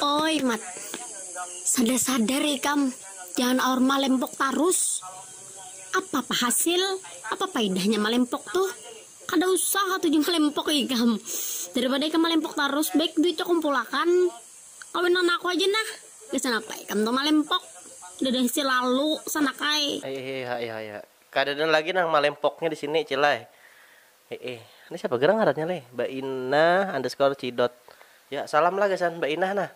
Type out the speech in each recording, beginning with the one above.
Oi mat, sadar sadar ikam, jangan aur malempok tarus, apapa hasil, apa paidahnya malempok tuh, kada usah atu ja malempok ikam, daripada ikam malempok tarus baik duitnya kumpulakan, kawinan aku haja nah, gasan apa ikam tuh malempok, dadah si lalu sanak ai. Aihaihaihaiha, kadada lagi nah malempoknya disini cil ai. He'e. Ni siapa gerang ngarannya leh? Bainah underscore cidot. Ya, salam lah gasan Bainah nah.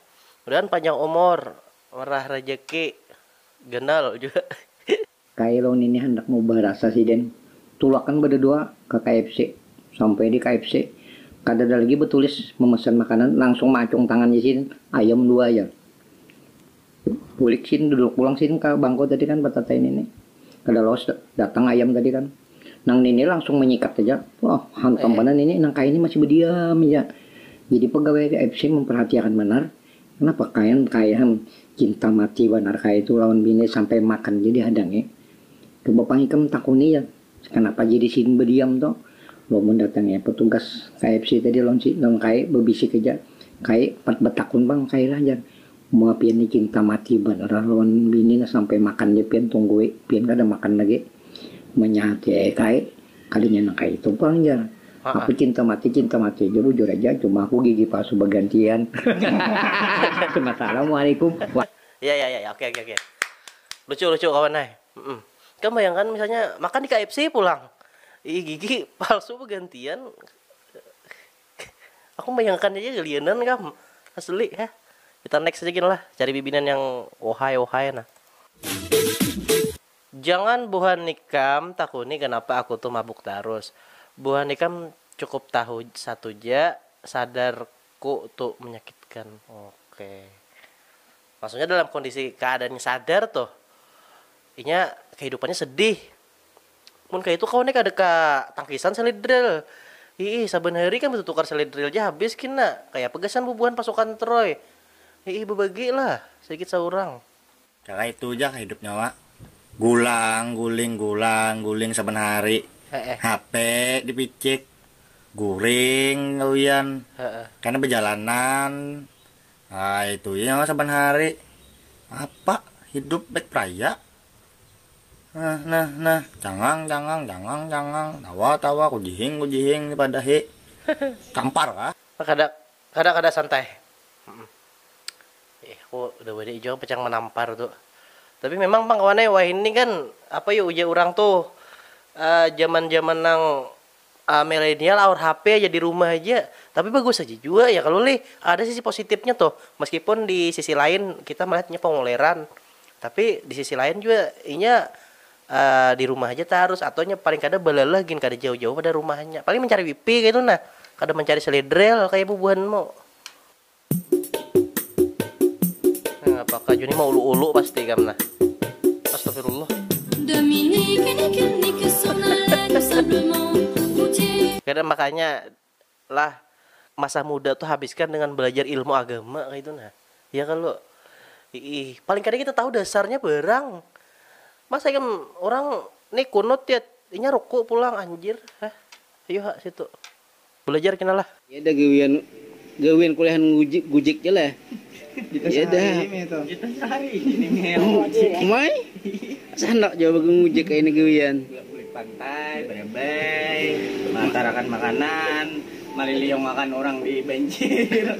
Mudahan panjang umur, merah rejeki, ganal jua. Kailong nini handak mau barasa siden, tulakan badadua ka KFC. Sampai di KFC, kadada lagi batulis memesan makanan, langsung maacung tangan isin ayam dua ja. Bulik sini duduk pulang sini ka bangko tadi kan batatai nini. Kada lawas datang ayam tadi kan. Nang nini langsung manyikat haja. Wah hantam banar nini nang kaini masih badiam haja. Jadi pegawai fc memperhatiakan banar kenapa kayan kayan cinta mati banar kaya itu lawan bini sampai makan ja dihadangi. Coba pang ikam takuni ja kenapa jadi sidin badiam tu. Wah mun datangnya petugas kfc tadi lawan si lawan kai bebisik haja. Kai umpat betakun pang kailah jar. Mua pian ni cinta mati banar ah lawan bini nah sampai makan ja pian tunggui pian kada makan lagi manyahati ai kai kalinya nang kaitu pang jar aku cinta mati cinta mati ja bujur aja cuma aku gigi palsu bagantian Assalamualaikum. Ya ya ya ya oke oke oke lucu lucu kawan ai mm ikam bayangkan misalnya makan di KFC pulang gigi palsu bagantian. Aku membayangkan aja gelianan kam asli ya. Kita next aja gin lah cari bibinan yang ohai ohai nah. Jangan buhan ikam takuni kenapa aku tuh mabuk tarus. Buhan ikam cukup tahu satu ja sadar ku tu menyakitkan. Oke. Maksudnya dalam kondisi keadaan sadar tuh inya kehidupannya sedih Mun kaya itu kawan nih kada ka tangkisan salid drill. Hiih, saban hari kami tutukar salid drill ja habis gin nak, kaya apa gasan bubuhan pasukan Troy. Hiih, bebagi lah, saikit saurang. Kaya itu ja kah hidupnya wak, gulang guling gulang guling saban hari, HP di picik, guring gawian, kena bejalanan, kaya itu ja nyawa saban hari, apa hidup baik praya. Nah, nah, nah, cangang, cangang, cangang, cangang, tawa, tawa, kujihing, kujihing, ni padahi tampar kah? Kada, kada, kada santai. Ih, aku udah badai jua pang manampar tu. Tapi memang pang kawan ai, wahini kan apa yu ujar urang tu, jaman-jaman nang Milenial aur HP aja di rumah aja, tapi bagus aja jua ya kalo lih, ada sisi positipnya tuh, meskipun di sisi lain kita melihat inya kongoleran, tapi di sisi lain jua inya di rumah aja tarus atau nya paling kada balalah gin kada jauh-jauh pada rumahnya, paling mancari wifi kaitu nah, kada mancari seledrel kaya bubuhanmu. Nah, apakah Juni mau ulu-ulu pasti kam nah. Astagfirullah. Kada makanya lah masa muda tuh habiskan dengan belajar ilmu agama kaitu nah. Ya kalu? Iih, paling kada kita tahu dasarnya barang. Masa ikam urang ni kunut ya inya ruku pulang anjir. Hah? Ayu ha situ. Balajar kena lah. Ya dah gawian gawian kuliahan gujik gujik ja lah ya dah umai asa handak jua bagangujik kayani gawian. Bulik bulik pantai barebai maantarakan makanan maliliung akan urang di banjir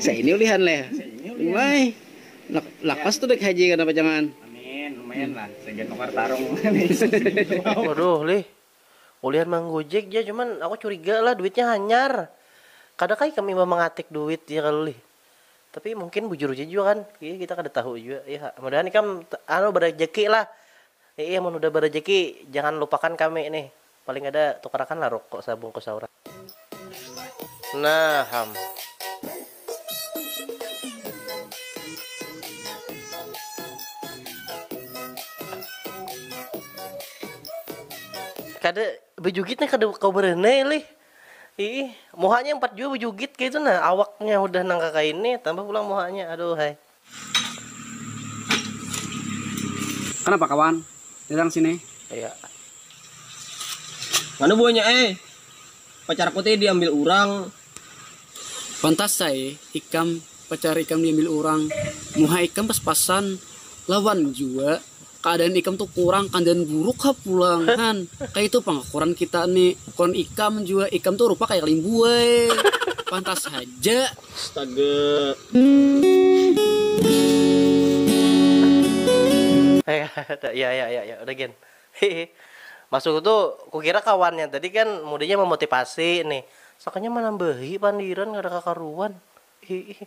saini ulihan leh umai nak lakas tu baik haji kada pacangan. Amin lumayan lah sagan nukar tarung. Waduh lih Ulihan manggojek ja cuman aku curiga lah duitnya hanyar. Kada kah ikam imbah mangatik duit ya kalo lih. Tapi mungkin bujur ja jua kan iya kita kada tahu jua iya kak. Mudahan ikam anu barajaki lah. Iya iya mun udah barajaki jangan lupakan kami nih. Paling kada tukarakan lah ruko sabungkus saurang. Nah ham. kada bejugitnya kada kau berenai lih ih muhanya empat jua bejugit kaitu nah awaknya hudah nang kakaini tambah pulang muhanya aduhai. Kenapa kawan? Datang sini. Iya. Mana buahnya eh? Pacar aku teh diambil orang. Pantas saya ikam pacar ikam diambil orang. Muha ikam pas-pasan lawan jua. Keadaan ikam tu kurang kandian buruk ha pulang han. Kaitu pang ukuran kita ni. Ukuran ikam jua. Ikam tu rupa kaya limbu ai. Pantas haja. Astaga. Ya ya ya ya udah gin. Hihi. Maksudku tu kukira kawannya tadi kan mudinya memotivasi nih. Sakanya manambahi pandiran kada kakaruan. Hihi.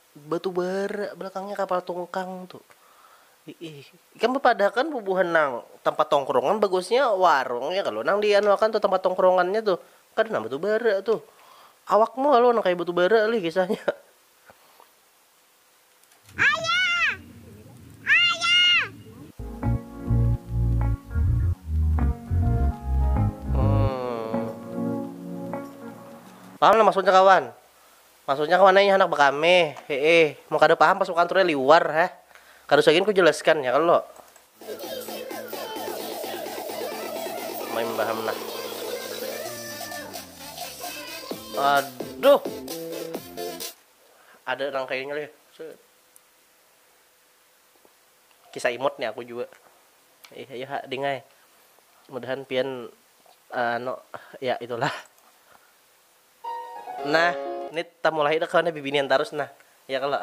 Batubar belakangnya kapal tungkang tu iih ikam bapadahakan bubuhan nang tampat tongkrongan bagusnya warung ya kalo nang di anu akan tu tampat tongkrongannya tu kada nang batubara tu awakmu kalo nang kaya batubara lih kisahnya. Paham nang maksudnya kawan. Maksudnya kemana ih handak bekame heeh mun kada paham pasukan ture liwar heh kada usah gin ku jelaskan ya kalo. Maimbaham nah. Aduh. Ada nang kayanya leh. Set. Kisah imut nih aku jua. Ih, ayo ha ding ai. Mudahan pian anu ya itulah. Nah, ni tamulahi dah kawan nih bibinian tarus nah, ya kalo?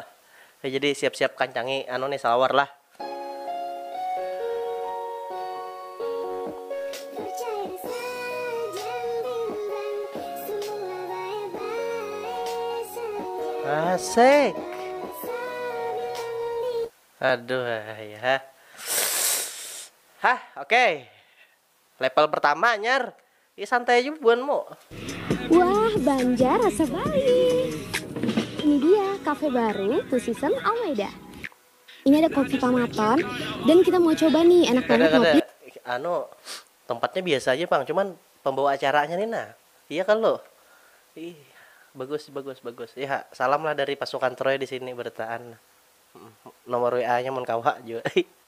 Oke, jadi siap-siap kancangi anu nih salawar lah. Asik. Aduh, hah. Hah, oke. Level pertama anyar. Ih santai aja buanmu. Wah Banjar rasa Bali. Ini dia cafe baru Two Season Almeida. Ini ada kopi pamaton dan kita mau coba nih enak banget kada, kada. ngopi. Anu tempatnya biasa aja pang cuman pembawa acaranya nih nah iya kalu ih bagus bagus bagus ya salam lah dari pasukan troy disini bertaan nomor WA nya mun kawa jua.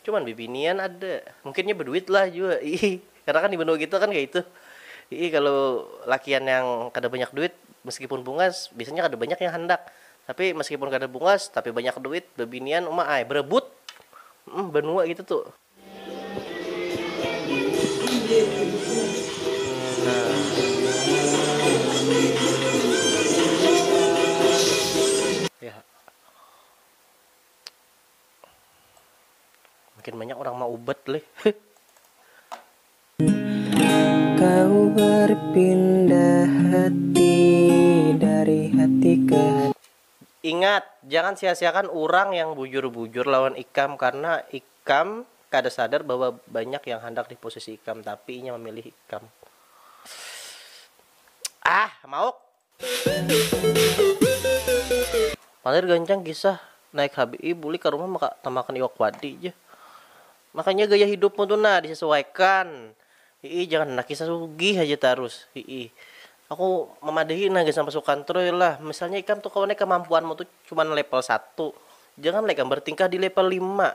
Cuman bibinian ada. Mungkin nya beduit lah jua iih. Karena kan di benua kita kan kaya itu. Iih kalu lakian yang kada banyak duit meskipun bungas biasanya kada banyak yang handak. Tapi meskipun kada bungas tapi banyak duit bebinian uma ai berebut. Humm benua kita tu. Nah. Mungkin banyak orang mau ubat leh. Kau berpindah hati dari hati ke hati. Ingat, jangan sia-siakan urang yang bujur-bujur lawan ikam karna ikam kada sadar bahwa banyak yang handak di posisi ikam tapi inya mamilih ikam. Ah, mauk. Palir gancang kisah naik HBI bulik ka rumah maka tamakan iwak wadi ja. Makanya gaya hidupmu tu nah disesuaikan hiih jangan handak kisah sugih haja tarus hiih. Aku mamadahi nah gasan pasukan troy lah misalnya ikam tu kawan ai kamampuanmu tu cuman level satu jangan lah ikam bertingkah di level lima.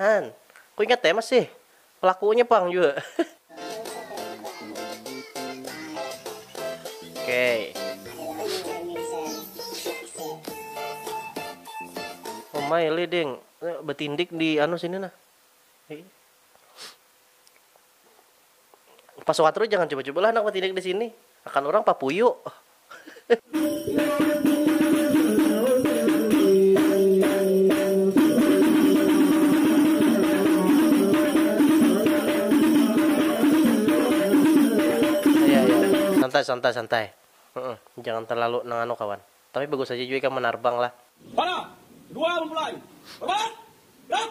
Han, ku ingat ai masih. Pelakunya pang jua. Okey. Umai li ding, betindik di anu sini nah. Pas suka terus jangan cuba-cuba lah anak batidik disini, akan urang papuyu. Santai santai santai jangan terlalu nang anu kawan tapi bagus haja jua ikam manarbang lah. Pada, dua, mulai. Rapat! Gerak!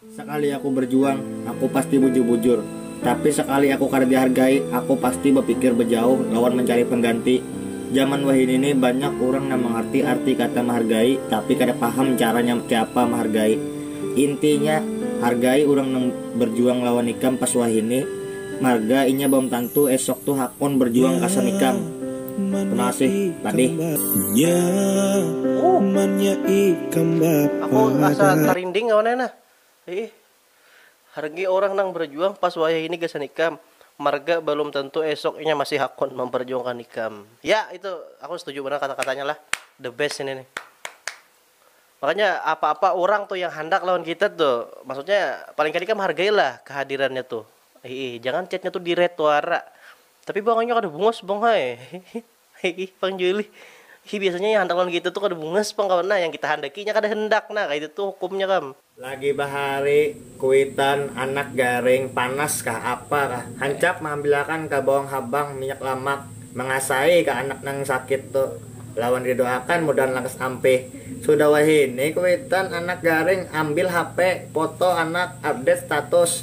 Sakali aku berjuang, aku pasti bujur-bujur. Tapi sakali aku kada dihargai, aku pasti bapikir bejauh lawan mencari pengganti. Jaman wahini ni banyak urang nang mangarti arti kata mahargai tapi kada paham caranya keapa mahargai. Intinya, hargai urang nang berjuang lawan ikam pas wahini, marga inya balum tantu esok tu hakun berjuang gasan ikam. Tunasi tadi. Nya mannya ikam bapa. Aku asa tarinding kawan ai nah. Iih. Hargai orang nang berjuang pas wayah ini gasan ikam. Marga balum tentu esok inya masih hakun memperjuangkan ikam. Ya itu aku setuju banar kata-katanya lah. The best ini nih. Makanya apa-apa urang tuh yang handak lawan kita tuh, maksudnya paling kada ikam hargai lah kehadirannya tuh. Iih. Jangan chatnya tuh di read wara. Tapi bang inya kada bungas bang hai hiih pang julih hi biasanya yang handak lawan kita tuh kada bungas pang kawan nah yang kita handaki inya kada handak nah kaitu tuh hukumnya kam. Lagi bahari kuitan anak garing panas kah apa kah hancap mahambilakan ka bawang habang minyak lamak mangasai ka anak nang sakit tu lawan di doakan mudahan lakas ampih sudah wahini kuitan anak garing ambil hp foto anak update status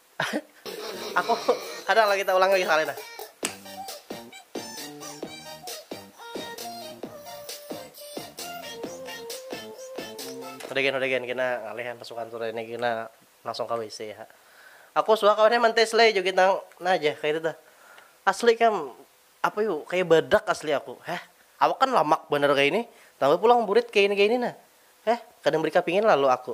Aku kadang lagi kita ulang lagi sekali dah. Udah gen, udah gen, kena ngalihan pasukan sore ini kena langsung ke WC ya. Aku suka kawannya mantes lay joget nang nah aja kayak itu tuh. Asli kam apa yuk kayak badak asli aku. Heh, awak kan lamak bener kayak ini. Tambah pulang burit kayak ini kayak ini nah. Heh, kadang beri kapingin lalu aku.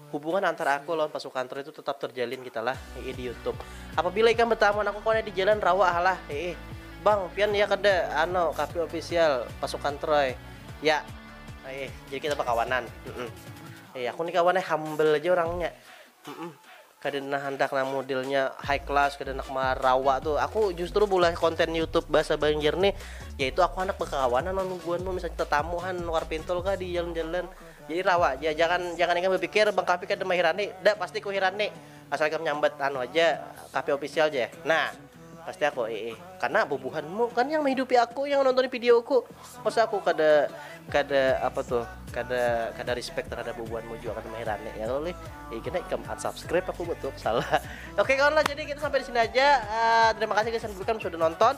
Hubungan antar aku lawan pasukan Troy itu tetap terjalin kita lah, heeh di YouTube. Apabila ikam betamu aku kone di jalan rawa ha lah, heeh. Bang, pian ya kada ano kafe official pasukan Troy, ya, heeh. Jadi kita bakawanan, heeh. Heeh, aku ni kawannya humble aja orangnya, heeh. Kada nah handak nang modelnya high class, kada handak ma rawa tuh. Aku justru bulah konten YouTube bahasa Banjar nih, yaitu aku handak bakawanan lawan bubuhanmu, misalnya tetamu han luar pintul kah di jalan-jalan. Jadi rawa aja, jangan jangan ikam bapikir bang Kahfi kada mahirani, dah pasti ku hirani, asal ikam nyambat anu aja Kahfi official ja, nah pasti aku iih, karna bubuhanmu kan yang mahidupi aku yang nonton videoku, masa aku kada kada apa tuh kada kada respect terhadap bubuhanmu jua kada mahirani ya kalo lih, iih kena ikam unsubscribe aku betul salah, oke kawan lah jadi kita sampai disini aja, terima kasih gasan bubuhan sudah nonton.